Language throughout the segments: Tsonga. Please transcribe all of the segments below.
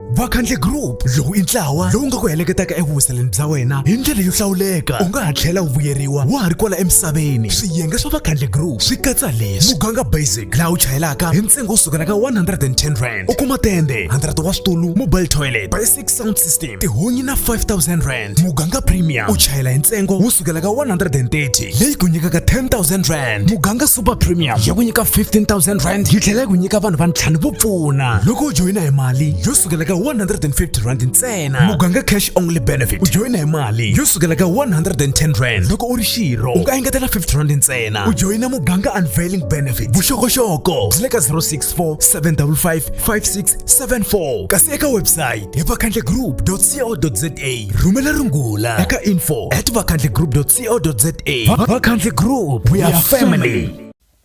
vakhandle group lowu i ntlawa lowu nga ku heleketaka evuhuseleni bya wena hi ndlela yo hlawuleka u nga ha tlhela u vuyeriwa wa ha ri kwala emisaveni swiyenge swa vakhandle group swi katsa leswi muganga basic laha u chayelaka hi ntsengo wo sukela ka 110 rand u kuma tende 100 wa switulu mobile toilet basic sound system tihunyi na 5000 rand rand muganga premium u chayela hi ntsengo wo sukela ka 130 leyi ku nyikaka 10000 rand muganga super premium ya ku nyika 15000 rand yi tlhela yi ku nyika vanhu va ntlhanu vo pfuna loko u joyina hi mali yo sukela ka 150 rand ntsena muganga cash only benefit u joyina hi mali yo sukela ka 110 rand loko u ri xirho u nga engetela 50 rand ntsena u joyina muganga unveiling benefit vuxokoxoko byi le ka 064 755 5674 kasi eka website hi vakhandle group co.za rhumela rungula eka info at vakhandli group co za vakhandli group we are family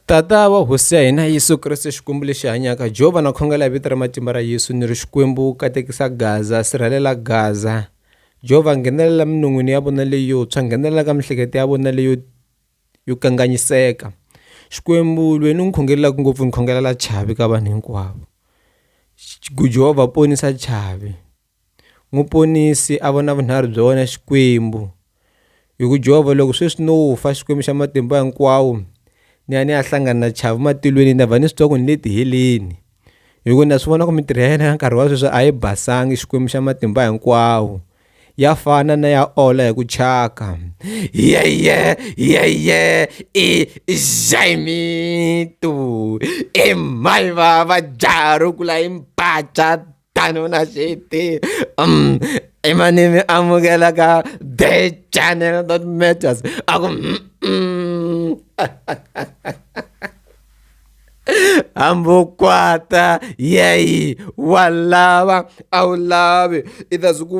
tata wa hosi ya hina yesu kreste xikwembu lexi hanyaka jehova na khongela hi vito ra matimba ra yesu ni ri xikwembu katekisa gaza sirhelela gaza jehova nghenelela minon'wini ya vona leyotshwa nghenelela ka mihleketo ya vona leyo yo kanganyiseka xikwembu lweni u n'wi khongelelaka ngopfu ni khongelela chavi ka vanhu hinkwavo jehova ponisa chavi Muponisi a vona vunharhu bya wena Xikwembu. Hi ku Jehovha loko sweswi no fa Xikwembu xa matimba hinkwawo ni ya ni ya hlangana na chavi matilweni na va ni switsoko ni le tiheleni hi ku na swi vona ku mintirho ya yena ya nkarhi wa sweswi a yi basangi Xikwembu xa matimba hinkwawo ya fana na ya ola hi ku chaka yeye yeye i xaimitu i mhaiva va jaha ro kula i mpatswa tanona xiti um emanimi amukelaka the channel that matters aku mm, mm. hambokwata yeyi wa lava a wu lavi i ta swi ku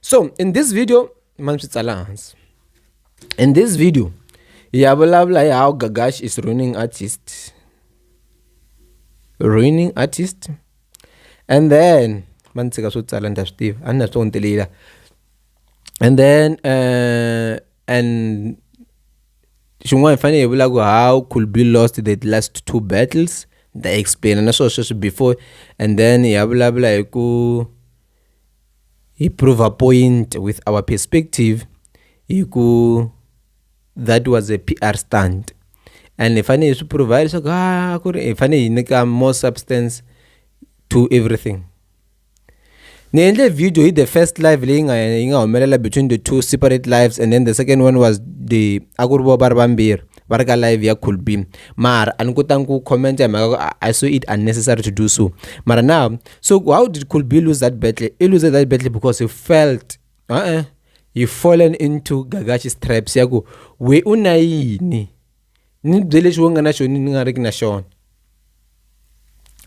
so in this video mani swi tsala hansi in this video hi ya vulavula hi how gagash is ruining artist ruining artist and then va ni tshika swo tsala ni ta swi tiva a ni na swo ntelela and then uh, and xin'wana hi fanele hi vula ku how could be lost the last two battles ni ta explaina na swona sweswi before and then hi ya vulavula hi ku Hi prova point with our perspective hi ku that was a PR stunt and hi fanele hi swi prova leswaku a ah, ku ri hi fanele hi nyika more substance to everything ni endle video hi the first live leyi nga yi nga humelela between the two separate lives and then the second one was the a ku ri vo va ri vambirhi va ri ka live ya cool beam mara a ni kotangi ku commenta hi mhaka ku i saw it unnecessary to do so mara now So how did Kulbi lose that battle? He loses that battle because he felt uh-uh, he fallen into Gagachi's traps. Ya ku we una yini? Ni byele xo nga na xona ni nga riki na xona.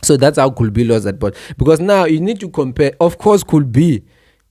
So that's how Kulbi lost that battle because now you need to compare. Of course, Kulbi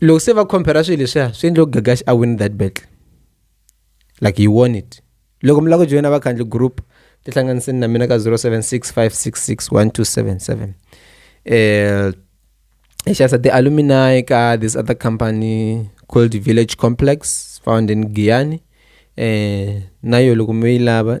loko se va compare swilo leswiya swi endle ku gagax a win that battle like he won it loko mi lava ku joyina vakhandli group tihlanganiseni na mina ka 0765661277 um eh, hi xavisa ti-alumini ka this other company called village complex found in giyani um eh, na yo loko mi yi lava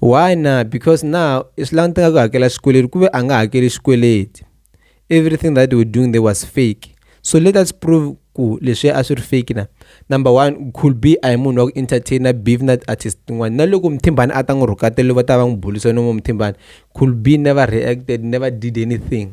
why na because now is long time ago hakela xikweleti kuve a nga hakeli xikweleti everything that they were doing there was fake so let us prove ku leswi a swi ri fake na number one could be a hi munhu wa ku entertainer beef na artist tin'wana na loko muthimbani a ta n'wi rhukatelo va ta va n'wi bulisa no muthimbani could be never reacted never did anything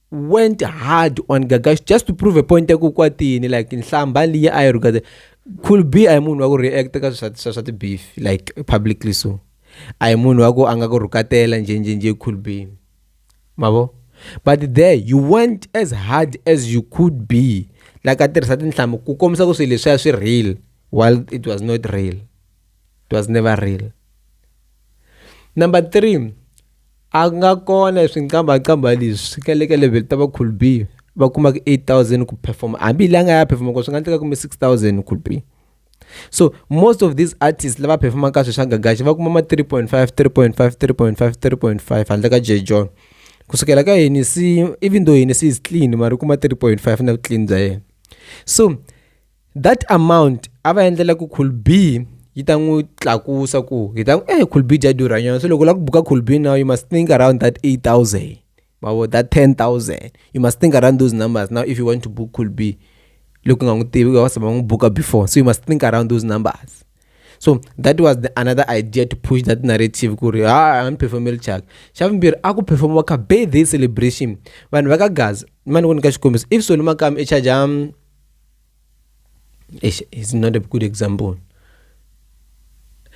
went hard on gagash just to prove a point ya ku kwatini like nhlamba leyi a yi rhukate could be a hi munhu wa ku react ka swa swa ti-beef like publicly so a hi munhu wa ku a nga ku rhukatela njhenjhenje could be mavo but there you went as hard as you could be like a tirhisa tinhlamu ku kombisa ku swilo leswiya swi real while it was not real it was never real number three a ku nga kona hi swinkambakamba leswi ka le ka level ta va cool b va kumaka 8000 ku performa hambi la nga ya performa ko swi nga endleka kume 6000 cool b so most of these artists lava performaka sweswi swa gagaxi va kuma ma 3.5 3.5 3.5 3.5 handle ka j john kusukela ka hini si even though hini si is clean mara u kuma 3.5 na vuclean bya yena so that amount a va endlela ku cool b yi ta n'wi tlakusa ku hi ta eh cool b dya durha nyana so loko u lava ku buka cool b now you must think around that 8000 mavo that 10000 you must think around those numbers now if you want to book cool b loko nga n'wi tivi va saba n'wi buka before so you must think around those numbers so that was the another idea to push that narrative ku ri ha ah, performel chak xa vumbirhi a ku performiwa ka birthday celebration vanhu va ka gaza ni ma ni ku nyika xikombiso if soni makami i charge Eish, is not a good example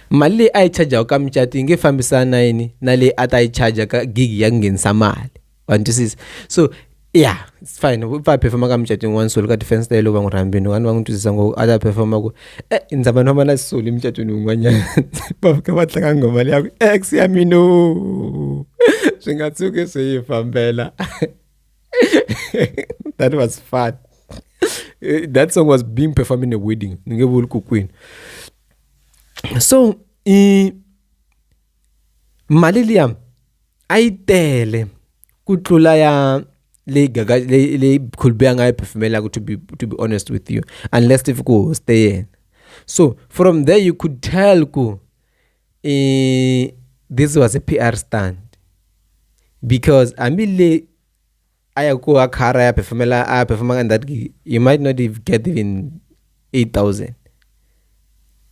mali leyi a yi charjaku ka mucato yi nge fambisani na yini na leyi a ta yi charja ka gigi ya ku nghenisa mali wa ni twisisa so ya it's fine u pfa performa ka mucato yin'wana solo ka defense ta yeloko va n'wi rhambini vanhu va n'wi twisisa ngopfu a ta performa ku e eh, ndza va noma na solo emucatweni wun'wanyana va fika va tlanga nghoma leyaku ex ya mino swi nga tshuki swi yi fambela that was fun. Eh, that song was being performed in a wedding. Queen. So, eh, mali liya a yi tele ku tlula ya leyi gaga leyi khulube a nga yi phefumelaka to be to be honest with you unless if ku hoste yena so from there you could tell ku Eh, this was a PR stunt because I mean, le aya ko a khara ya performela a performa in that gig you might not even get even 8000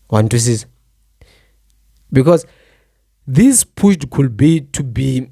one to six because this pushed could be to be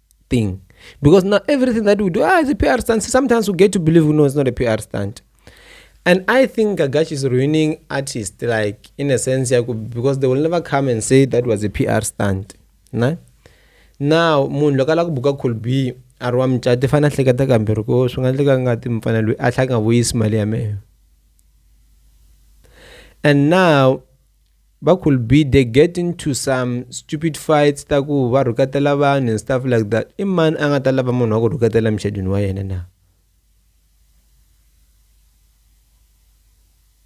thing. Because now everything that we do, ah, it's a PR stunt. Sometimes we get to believe, no, it's not a PR stunt. And I think Gagashi is ruining artists, like in a sense, because they will never come and say that was a PR stunt. Nah? Now, munhu loko ala ku buka colby a ri wa mucati fane a hleketa kambirhi ko swi nga endleka ngati mufana loyi a tlha nga vuyisi mali ya mehe and now va could be they get into some stupid fights ta ku va rhuketela vanhu and stuff like that i mani a nga ta lava munhu wa ku rhuketela muchedwini wa yena na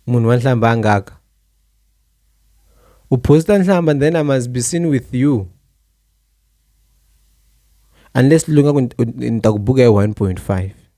munhu wa nhlamba a ngaka u posta nhlamba then i must be seen with you unless lu nga ku ni ta ku buka hi 1.5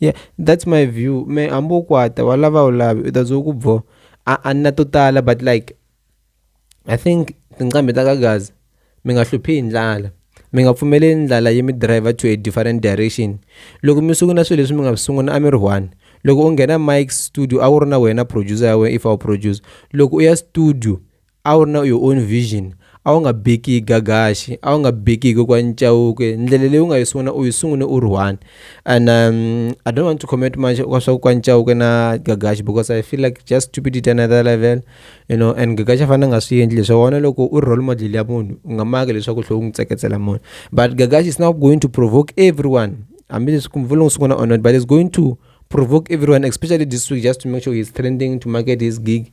Yeah that's my view mehe hambi u kwata wa lava a wu lavi u ta ze u ku bo a a ni na to tala but like i think tinqambi ta ka gaza mi nga hluphi hi ndlala mi nga pfumeleli ndlala yi mi driver to a different direction loko mi sungula swilo leswi mi nga swi sungula a mi ri one loko u nghena mike studio a wu ri na wena producer ya wena if a wu producer loko u ya studio. A wu ri na your own vision a wu nga beki hi gagaxi a wu nga beki hi kokwa ncawuke ndlela leyi u nga yi sungula u yi sungule u ri one and um, i don't want to comment much ka swa kokwa ncawuke na gagaxi because i feel like just stupidity another level you know and gagaxi a fanele nga swi endli leswi wona loko u ri role model ya munhu u nga maki leswaku tlhe u n'wi tseketsela munhu but gagaxi is now going to provoke everyone hambileswi kumvula n'wi sungula or not but is going to provoke everyone, especially this week, just to make sure he's trending to market his gig.